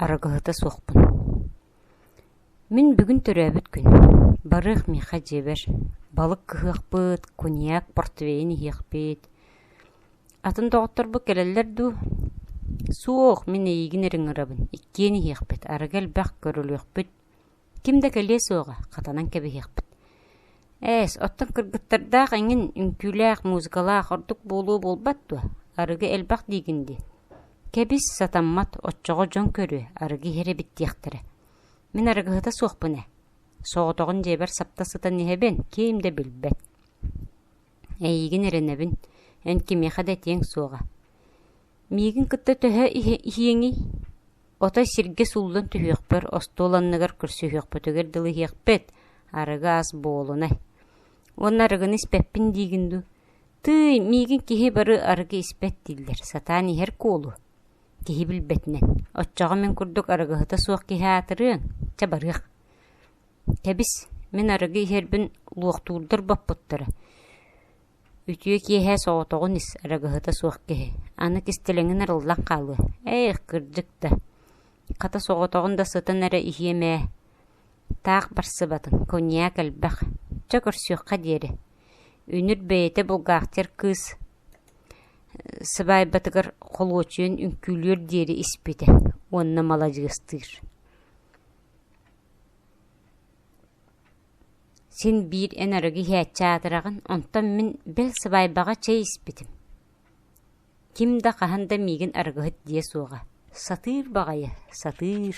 Арыгыһыта суохпун. Мин бүгүн төрөөбүт күн, барыах миэхэ дьиэбэр, балык кыһыахпыт, куньяк, портвейн иһиэхпит. Атын доҕотторбут кэлэллэр дуу? Суох, мин эйиигин эрэ ыҥырабын, иккиэн иһиэхпит, арыгы элбэх көрүлүөхпүт ким да кэлиэ суоҕа, хатанан кэбиһиэхпит. Ээс, оттон кыргыттардаах эҥин үҥкүүлээх, музыкалаах ордук буолуо буолбат дуо? Арыгы элбэх диигин дии. Кэбис, сатаммат, оччоҕо дьон көрүө, арыгы иһэр эбит диэхтэрэ. Мин арыгыһыта суохпун ээ. Соҕотоҕун дьиэбэр сапта сытан иһэбин, киим да билбэт. Эйиигин эрэнэбин, эн кимиэхэ да этиэҥ суоҕа. Миигин кытта төһө иһиэҥий? Ото сиргэ сууллан түһүөхпэр, остуол анныгар көрсүһүөхпүтүгэр дылы иһиэхпит, арыгы ас буолунай. Уонна арыгыны испэппин диигин дуу? Тыый, миигин киһи бары арыгы испэт дииллэр, сатаан иһэр куолу. Киһи билбэтинэн. Оччоҕо мин курдук арыгыһыта суох киһи аатырыаҥ, чэ барыах. Кэбис, мин арыгы иһэрбин луохтуурдар боппуттара. Үтүө киэһэ соҕотоҕун ис, арыгыһыта суох киһи, аны кистэлэҥин арыллан хаалыа, эйх, кырдьык да, хата соҕотоҕун да сытан эрэ иһиэм ээ, таах барсыбатын, куньяк элбэх, чэ көрсүөххэ диэри, үнүр бэйэтэ булгаахтыыр кыыс сыбаайбатыгар холуочуйан үҥкүүлүөр диэри испитэ уонна маладьыастыыр Син биир эн арыгы иһээччи аатыраҕын, онтон мин бэл сыбаайбаҕа чэй испитим ким да хаһан да миигин арыгыһыт диэ суоҕа, сатыыр баҕайы сатыыр